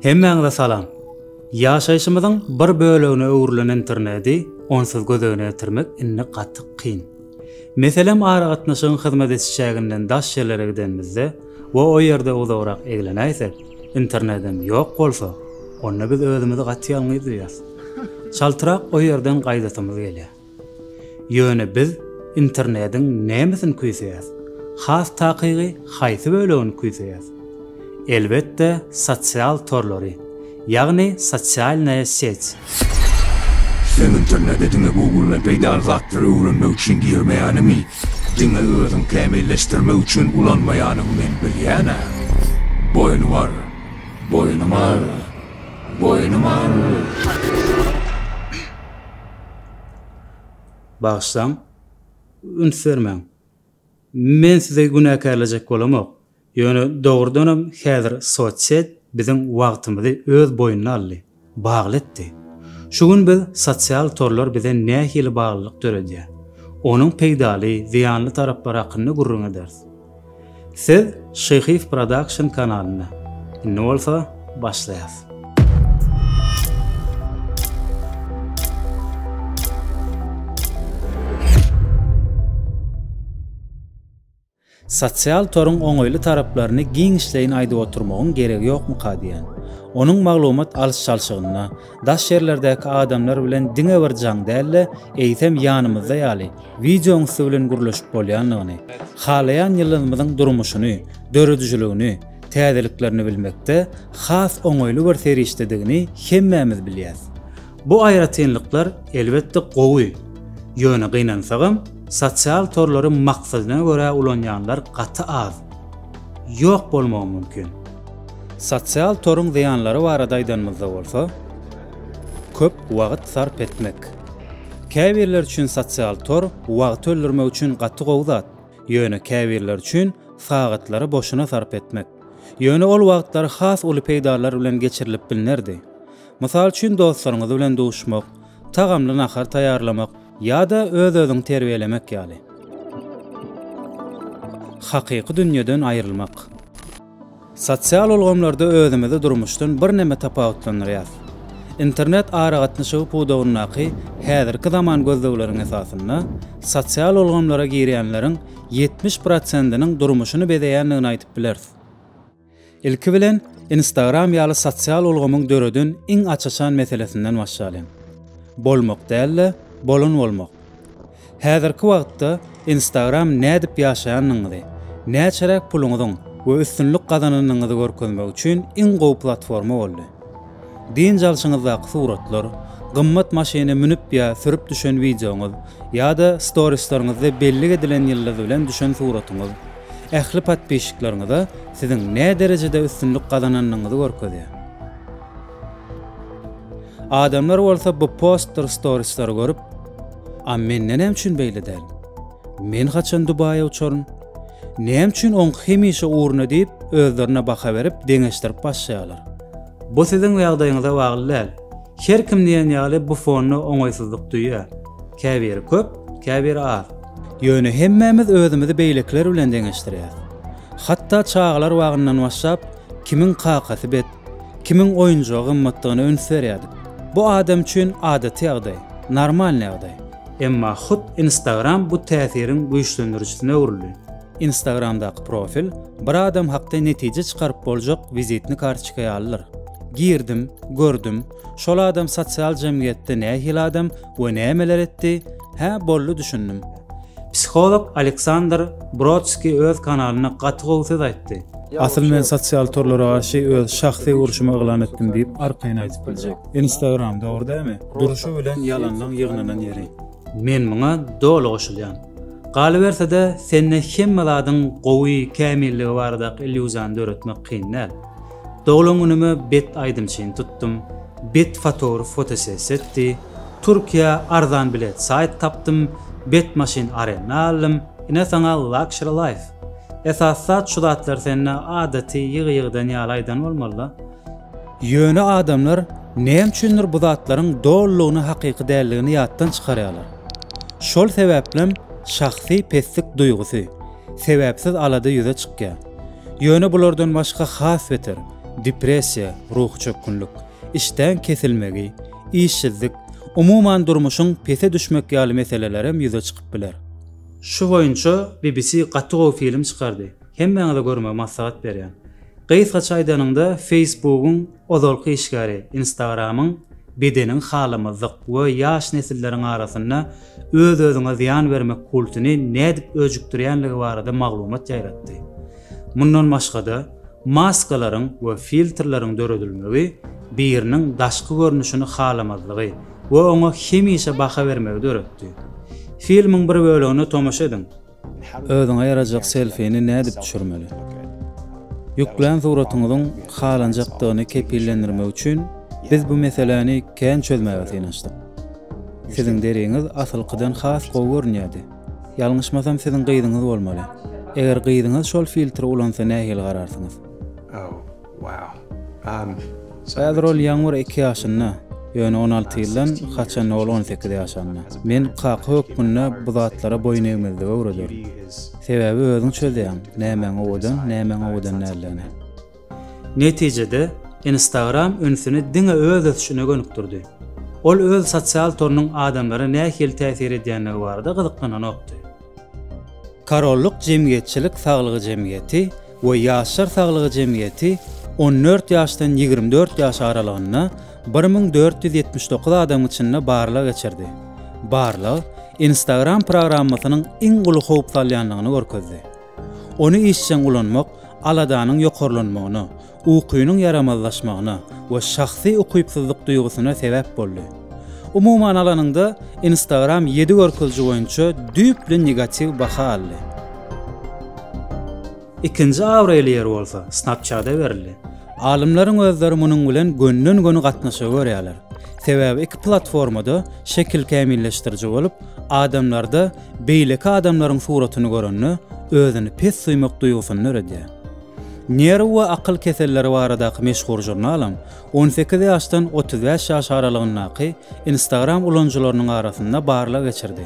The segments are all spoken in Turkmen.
Hemmäňize salam! Ýaşaýşymyzyň bir bölegine öwrülen internedi onsuz göz öňüne getirmek indi gaty kyn. Meselem aragatnaşygyň hyzmat ediş çäginden daş ýerlere gidenimizde we o ýerde uzagrak eglenäýsek, internedem ýok bolsa, onda biz özümizi gaty ýalňyz duýýas. Çaltrak o ýerden gaýdasymyz gelýär. Ýöne biz internediň nämesini küýseýäs? Has takygy haýsy bölegini küýseýäs? Elbetde sosial torlary, ýagny sosialnaýa seć. Sen internede diňe Google-dan peýdaly zatlary öwrenmek üçin girmeýäniňi, diňe özüň kämilleşdirmek üçin ulanmaýanyňy men bilýän-ä. Boýnuňy al! Boýnuňy al! Boýnuňy al! Bagyşlaň, üns bermäň. Men sizi günäkärlejek bolamok. Ýöne dogrudanam häzir sosiet biziň wagtymyzy öz boýnuna aldy, bagly etdi. Şu gün biz sosial torlar bize nähili baglylyk döredýär, onuň peýdaly, zyýanly taraplary hakynda gürrüň ederis. Siz Şyhyýew Production kanalynda. Indi bolsa başlaýas. Sosial toruň oňaýly taraplaryny giňişleýin aýdyp oturmagyň geregi ýokmyka diýýän. Onuň maglumat alyş-çalşygyna, daş ýerlerdäki adamlar bilen diňe bir jaň däl-de, eýsem ýanymyzda ýaly, wideoň üsti bilen gürleşip bolýandygyny, halaýan ýyldyzymyzyň durmuşyny, döredijiligini, täzeliklerini bilmekde has oňaýly bir serişdedigini hemmämiz bilýäs. Bu aýratynlyklar, elbetde, gowy, ýöne gynansagam, sosial torlary maksadyna görä ulanýanlar gaty az, ýok bolmagy mümkin. Sosial toruň zyýanlary barada aýdanymyzda bolsa, köp wagt sarp etmek. Käbirler üçin sosial tor wagty öldürmek üçin gaty gowy zat, ýöne käbirler üçin sagatlary boşuna sarp etmek. Ýöne ol wagtlar has uly peýdalar bilen geçirilip bilnerdi. Mysal üçin dostlaryňyz bilen duşmak, tagamly nahar taýýarlamak ýa-da öz-özüňi terbiýelemek ýaly. Hakyky dünýeden aýrylmak. Sosial ulgamlarda özümizi durmuşdan birneme tapawutlandyrýarys. Internet aragatnaşygy pudagyndaky häzirki zaman gözlegleriň esasynda, sosial ulgamlara girýänleriň ýetmiş prosentiniň durmuşyny bezeýändigini aýdyp bileris. Ilki bilen, Instagram ýaly sosial ulgamyň döreden iň aç-açan meselesinden başlalyň. Bolmak däl-de, bolan bolmak. Häzirki wagtda Instagram nädip ýaşaýanyňyzy, näçeräk puluňyzyň we üstünlik gazananyňyzy görkezmek üçin iň gowy platforma boldy. Dynç alşyňyzdaky suratlar, gymmat maşyny münüp ýa sürüp düşen wideoňyz ýa-da storislerňizde bellik edilen ýyldyz bilen düşen suratyňyz ähli podpişikleriňize siziň näderejede üstünlik gazananyňyzy görkezýär. Adamlar bolsa bu postdyr storislary görüp, A mende näme üçin beýle däl? Men haçan Dubaýa uçaryn? Näme üçin oň hemişe ugruna diýip, özlerine baha berip, deňeşdirip başlaýarlar. Bu siziň ýagdaýyňyza bagly däl. Her kim diýen ýaly bu fonda oňaýsyzlyk duýýar. Käbiri köp, käbiri az. Ýöne hemmämiz özümizi beýlekiler bilen deňeşdirýäris. Hatda çagalar bagyndan başlap, kimiň kakasy bet, Kimiň oýunjagy gymmatdygyna üns berýärdik. Bu adam üçin adaty ýagdaý, normalny ýagdaý. Emma hut Instagram bu täsiriň güýçlendirijisine öwrüldi. Instagramdaky profil bir adam hakda netije çykaryp boljak wizitni kartoçka ýalydyr. Girdim, gördüm, şol adam sosial jemgyýetde nähili adam, we nämeler etdi? Hä, boldy düşündim. Psiholog Aleksandr Brodskiý öz kanalynda gaty gowy söz aýtdy. Asyl men sosial torlara garşy öz şahsy urşumy yglan etdim diýip arkaýyn aýdyp biljek. Instagram dogry dämi? Durşy bilen ýalanlaň ýygnanan ýeri. Men muňa doly goşulýan. Galyberse-de sende hemme zadyň gowy, kämilligi baradaky illýuziýany döretmek kyn däl. Doglan günüme bet aýdymçyny tutdum, bet fotogrf fotosessiýa etdi, Türkiýä arzan bilet saýt tapdym, bet maşyn arenda aldym, ine saňa luxury life. Esasy zat şu zatlar sende adaty ýygy-ýygydan ýaly aýdan bolmalyda. Ýöne adamlar näme üçindir bu zatlaryň dolulygyna hakyky däldigini ýatdan çykarýarlar. Şol sebäplem şahsy peslik duýgusy, sebäpsiz alada ýüze çykýar. Ýöne bulardan başga has beter, depressiýa, ruhy çökgünlik, işdäň kesilmegi, işsizlik, umuman durmuşyň pese düşmek ýaly meselelerem ýüze çykyp biler. Şu boýunça BBC gaty gowy film çykardy. Hemmäňize görmegi maslahat berýän. Gysgaça aýdanyňda, Facebookyň ozalky işgäri, Instagramyň bedeniň halamazlyk we ýaş nesilleriň arasynda öz-özüňe zyýan bermek kultyny nädip öjükdirýänligi barada maglumat ýaýratdy. Mundan başga-da, maskalaryň we filtrleriň döredilmegi biriniň daşky görnüşini halamazlygy we oňa hemişe baha bermegi döretdi. Filmiň bir bölegine tomaşa ediň. Özüňe ýarajak selfini nädip düşürmeli? Ýüklän suratyňyzyň halanjakdygyny kepillendirmek üçin biz bu meseläni kän çözmäge synanyşdyk. Siziň deriňiz asylkydan has gowy görünýärdi. Ýalňyşmasam siziň gyzyňyz bolmaly. Eger gyzyňyz şol filtri ulansa nähili gararsyňyz? Häzir ol ýanwar iki ýaşynda, ýöne on alty ýyldan haçanda ol on sekiz ýaşanda. Men kaka hökmünde bu zatlara boýun egmezligi öwrederin. Sebäbi özüň çözýäň, nämäň owadan, nämäň owadan däldigini. Netijede, Instagram ünsüni diňe öz ösüşine gönükdirdi. Ol öz sosial torunyň adamlara nähili täsir edýändigi barada gyzyklananokdy. Korollyk jemgyýetçilik saglygy jemgyýeti we ýaşlar saglygy jemgyýeti on dört ýaşdan ýigrimi dört ýaş aralygynda bir müň dört ýüz ýetmiş dokuz adamyň içinde barlag geçirdi. Barlag Instagram programmasynyň iň uly howp salýandygyny görkezdi. Ony işjeň ulanmak aladanyň ýokarlanmagyna ukynyň ýaramazlaşmagyna we şahsy ukypsyzlyk duýgusyna sebäp boldy. Umuman alanyňda, Instagram ýedi görkeziji boýunça düýpli negatiw baha aldy. Ikinji abraýly ýer bolsa Snapchat-a berildi. Alymlaryň özleri munuň bilen gönden-göni gatnaşygy görýärler. Sebäbi iki platforma-da şekil kämilleşdiriji bolup, adamlarda beýleki adamlaryň suratyny görende özüni pes duýmak duýgusyny döredýär. Nerw we akyl keselleri baradaky meşhur žurnalyň on sekiz ýaşdan otuz bäş ýaş aralygyndaky Instagram ulanyjylarynyň arasynda barlag geçirdi.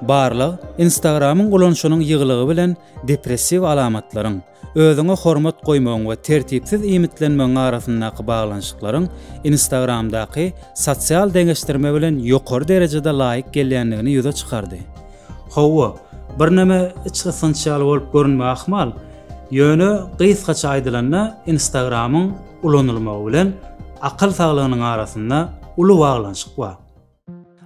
Barlag Instagram-yň ulanyşynyň ýygylygy bilen depressiw alamatlaryň, özüňe hormat goýmagyň we tertipsiz iýmitlenmegiň arasyndaky baglanyşyklaryň Instagram-daky sosial deňeşdirme bilen ýokary derejede laýyk gelýändigini ýüze çykardy. Hawa, birneme içgysgynç ýaly bolup görünmegi ahmal, ýöne gysgaça aýdylanda Instagramyň ulanylmagy bilen akyl saglygynyň arasynda uly baglanyşyk bar.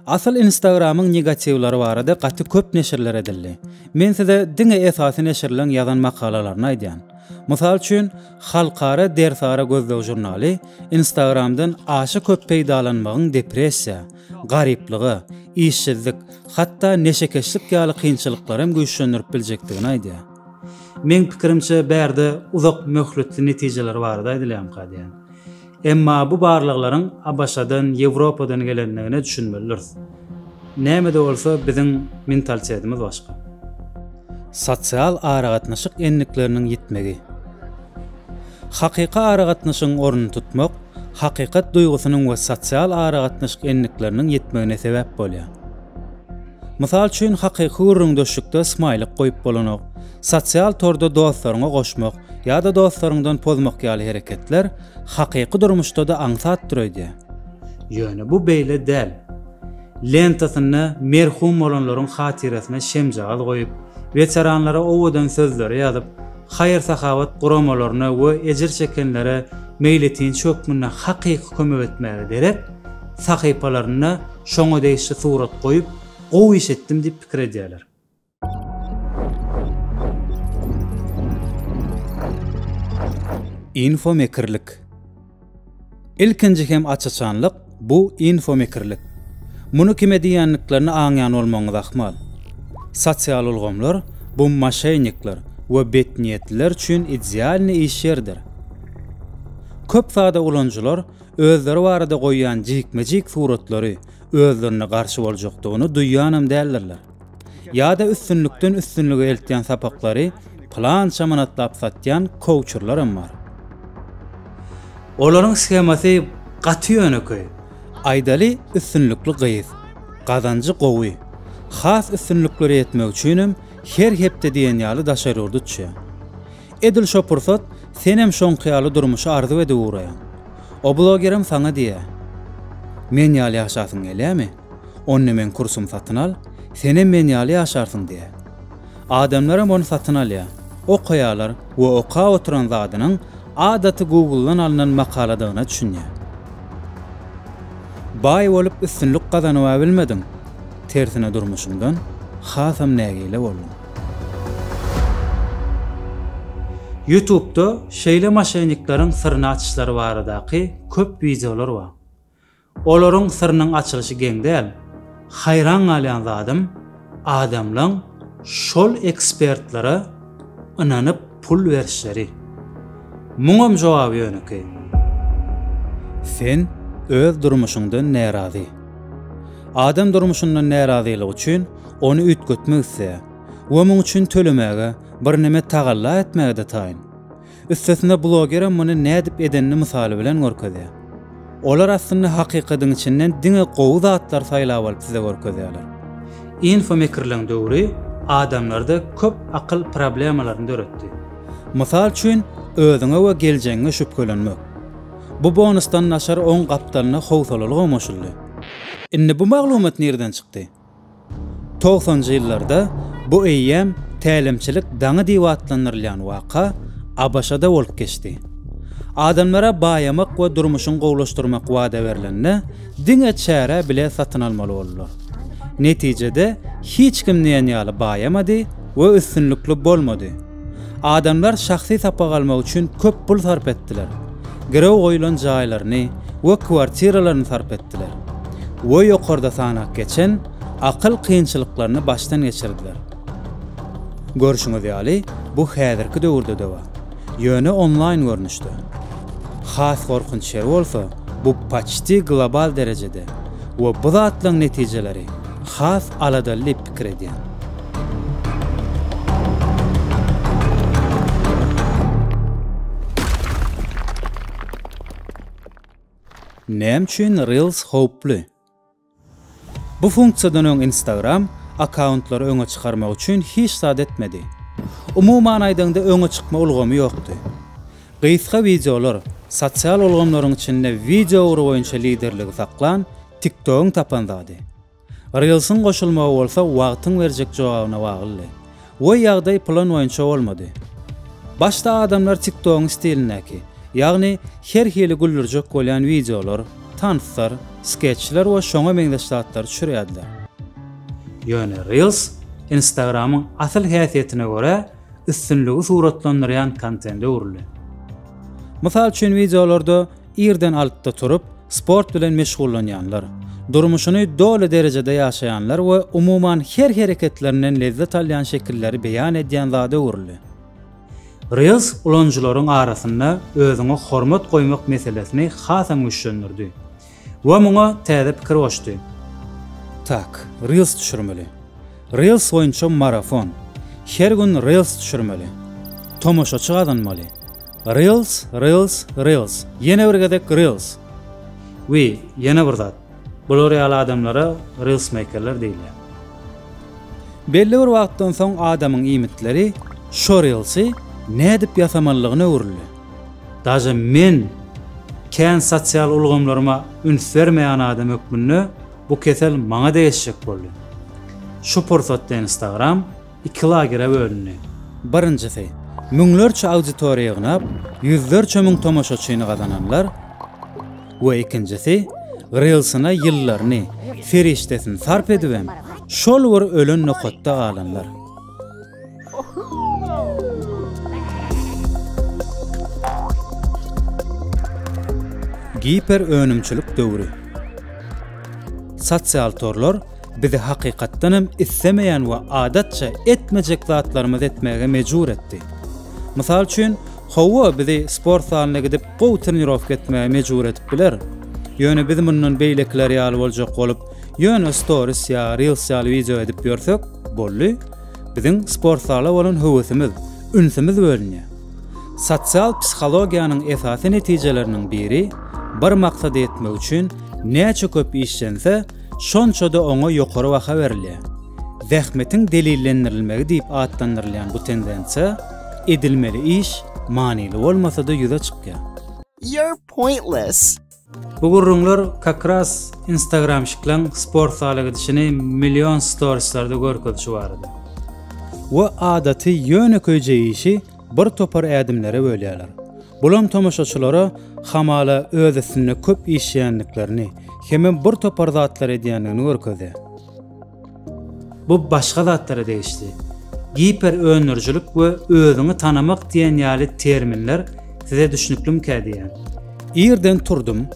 Asyl Instagramyň negatiwleri barada gaty köp neşirler edildi. Men size diňe esasy neşirleň ýazan makalalaryny aýdýan. Mysal üçin, halkara Dersara gözleg žurnaly Instagramdan aşa köp peýdalanmagyň depressiýa, garyplygy, işsizlik, hatda neşekeşlik ýaly kynçylyklary hem güýçlendirip biljekdigini aýdýar. Meň pikirimçe, bärde uzak möhletli netijeler barada aýdylýamyka diýýän. Emma bu barlaglaryň ABŞ-dan, Ýewropadan gelendigine düşünmeli dürs. Näme-de bolsa, biziň mentalitetimiz başga. Sosial aragatnaşyk endikleriniň ýitmegi. Hakyky aragatnaşygyň ornuny tutmak hakykat duýgusynyň we sosial aragatnaşyk endikleriniň ýitmegine sebäp bolýar. Mysal üçin, hakyky gürrüňdeşlikde smaýlik goýup bolanok, sosial torda dostlaryňy goşmak ýa-da dostlaryňdan pozmak ýaly hereketler hakyky durmuşda-da aňsatdyr öýdýär. Ýöne bu beýle däl. Lentasynda merhum bolanlaryň hatyrasyna şemjagaz goýup, weteranlara owadan sözleri ýazyp, haýyr-sahawat guramalaryna we ejir çekenlere meýletinçi hökmünde hakyky kömek etmäge derek, sahypalarynda şoňa degişli surat goýup, gowy iş etdim diýip pikir edýärler. Info Mekirlik. Ilkinji hem aç-açanlyk, bu infomekirlik. Muny kime diýýändiklerini aňýan bolmagyňyz ahmal. Sosial ulgamlar, bu moşennikler we betniýetliler üçin idealnyý iş ýeridir. Köp sada ulanyjylar özleri barada goýýan jikme-jik suratlary özlerine garşy boljakdygyny duýýanam däldirler. Ýa-da üstünlikden üstünlige eltýän sapaklary pylança manatlap satýan kouçerlaram bar. Olaryň shemasy gaty ýönekeý. Aýdaly üstünlikli gyz, gazanjy gowy. Has üstünliklere ýetmek üçinem her hepde diýen ýaly daşary ýurda uçýar. Edil şo pursat senem şoňky ýaly durmuşy arzuw edip ugraýaň. O blogerem saňa diýýär. Men ýaly ýaşasyň gelýärmi? Onda meň kursumy satyn al, senem men ýaly ýaşarsyň diýýär. Adamlaram ony satyn alýar, okaýarlar we okap oturan zadynyň adaty Google-dan alnan makaladygyna düşünýär. Baý bolup üstünlik gazanybam bilmediň, tersine durmuşyňdan hasam nägile bolduň. Ýutubda şeýle maşennikleriň syryny açyşlary baradaky köp wideolar bar. Olaryň syrynyň açylyşy geň däl. Haýran galýan zadym, adamlaň şol ekspertlere ynanyp pul berişleri. Muňam jogaby ýönekeý. Sen öz durmuşyňdan närazy. Adam durmuşyndan närazylygy üçin ony üýtgetmek isleýär we muň üçin tölemäge, birneme tagalla etmäge-de taýyn. Üstesine blogerem muny nädip edenini mysaly bilen görkezýär. Olar aslynda hakykadyň içinden diňe gowy zatlary saýlap alyp size görkezýärler. Infomikirligiň döwri adamlarda köp akyl problemalaryny döretdi. Mysal üçin özüňe we geljegiňe şübhelenmek. Bu bonusdan naçar oň gapdalyna howsalaly gomaşyldy. Indi bu maglumat nirden çykdy? Togsanjy ýyllarda bu eýýäm tälimçilik daňy diýip atlandyrylýan waka ABŞ-da bolup geçdi. Adamlara baýamak we durmuşyň gowulaşdyrmak wada berlende, diňe çärä bilet satyn almaly boldular. Netijede, hiç kim diýen ýaly baýamady we üstünlikli bolmady. Adamlar şahsy sapak almak üçin köp pul sarp etdiler. Girew goýulan jaýlaryny we kwartiralaryny sarp etdiler. We ýokarda sanap geçen akyl kynçylyklaryny başdan geçirdiler. Görşüňiz ýaly, bu häzirki döwürde-de bar. Ýöne onlaýn görnüşde. Has gorkunç ýeri bolsa, bu paçti global derejede we bu zatlaryň netijeleri has aladaly diýip pikir edýän. Näme üçin Reels howply? Bu funksiýadan öň Instagram akkauntlary öňe çykarmak üçin hiç zat etmedi. Umuman aýdaňda öňe çykma ulgamy ýokdy. Gysga wideolar sosial ulgamlaryň içinde wideo ugry boýunça liderligi saklan TikTok-yň tapan zady. Reels-iň goşulmagy bolsa wagtyň berjek jogabyna baglydy. We ýagdaý plan boýunça bolmady. Başda adamlar TikTok-yň stilindäki, ýagny her hili güldürjek bolýan wideolar, tanslar, skeçler we şoňa meňzeş zatlary düşürýärdiler. Ýöne Reels Instagram-yň asyl häsiýetine görä üstünligi suratlandyrýan kontende öwrüldi. Mysal üçin wideolarda Irden altda turup, sport bilen meşgullanýanlar, durmuşyny doly derejede ýaşaýanlar we umuman her hereketlerinden lezzet alýan şekilleri beýan edýän zada öwrüldi. Reels ulanyjylaryň arasynda özüňe hormat goýmak meselesini hasam güýçlendirdi we muňa täze pikir goşdy. Tak, Reels düşürmeli. Reels boýunça marafon. Her gün reels düşürmeli. Tomaşaçy gazanmaly. Reels, reels, reels. Ýene bir gezek reels. We ýene bir zat. Bular ýaly adamlara reelsmeýkerler diýilýär. Belli bir wagtdan soň adamyň iýmitleri şo reelsy nädip ýasamalygyna öwrüldi. Daže men kän sosial ulgamlaryma üns bermeýän adam hökmünde, Bu kesel maňa degişjek boldy. Şu pursatda Instagram iki lagere bölündi. Birinjisi, müňlerçe auditoriýa ýygnap, ýüzlerçe müň tomaşaçyny gazananlar we ikinjisi, Reels-yna ýyllaryny, serişdesini sarp edibem, şol bir ölen nokatda galanlar. Giper önümçilik döwri. Sosial torlar bizi hakykatdan hem islemeýän we adatça etmejek zatlarymyzy etmäge mejbur etdi. Mysal üçin, howa bizi sport zalyna gidip gowy trenirowka etmäge mejbur edip biler. Ýöne biz mundan beýlekiler ýaly boljak bolup, Ýöne storis ýa reels ýaly wideo edip ýörsek, boldy, biziň sport zala bolan höwesimiz, ünsümiz bölünýär. Sosial psihologiýanyň esasy netijeleriniň biri, bir maksada ýetmek üçin näçe köp işlense, şonça-da oňa ýokary baha berilýär. Zähmetiň delillendirilmegi diýip atlandyrylýan bu tendensiýa, edilmeli iş manyly bolmasa-da ýüze çykýar. You're pointless. Bu gürrüňler kakras instagramşiklaň sport zala gidişini million storislarda görkezişi barada. We adaty ýönekeý jeýişi bir topar ädimlere bölýärler. Bulam tomaşaçylara hamala öz üstünde köp işleýändiklerini, hemem bir topar zatlar edýändigini görkezýär. Bu başga zatlara degişli. Giper öndürijilik we özüňi tanamak diýen ýaly terminler size düşnüklimikä diýýän. Irden turdum,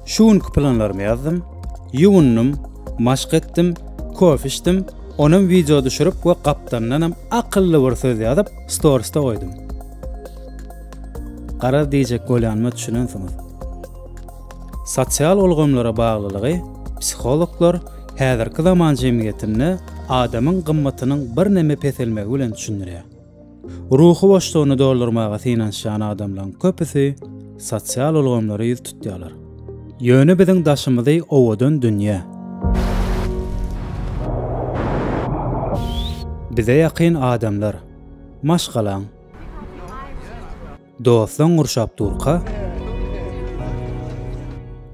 şu günki planlarymy ýazdym, ýuwundym, maşk etdim, kofe içdim, onam wideo düşürip we gapdandanam akylly bir söz ýazyp storisde goýdum. Garaz diýjek bolýanyma düşünensiňiz. Sosial ulgamlara baglylygy psihologlar häzirki zaman jemgyýetinde adamyň gymmatynyň birneme peselmegi bilen düşündirýär. Ruhy boşlugyny doldurmaga synanyşýan adamlaryň köpüsi sosial ulgamlara ýüz tutýarlar. Ýöne biziň daşymyzy owadan dünýä. Bize ýakyn adamlar. Maşgalaň. Doslaň gurşap durka,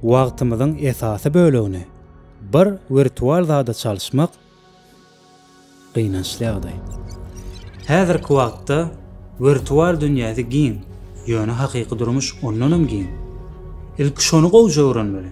wagtymyzyň esasy bölegini bir wirtual zada çalyşmak gynançly ýagdaý. Häzirki wagtda wirtual dünýäsi giň, ýöne hakyky durmuş ondanam giň. Ilki şony gowja öwrenmeli.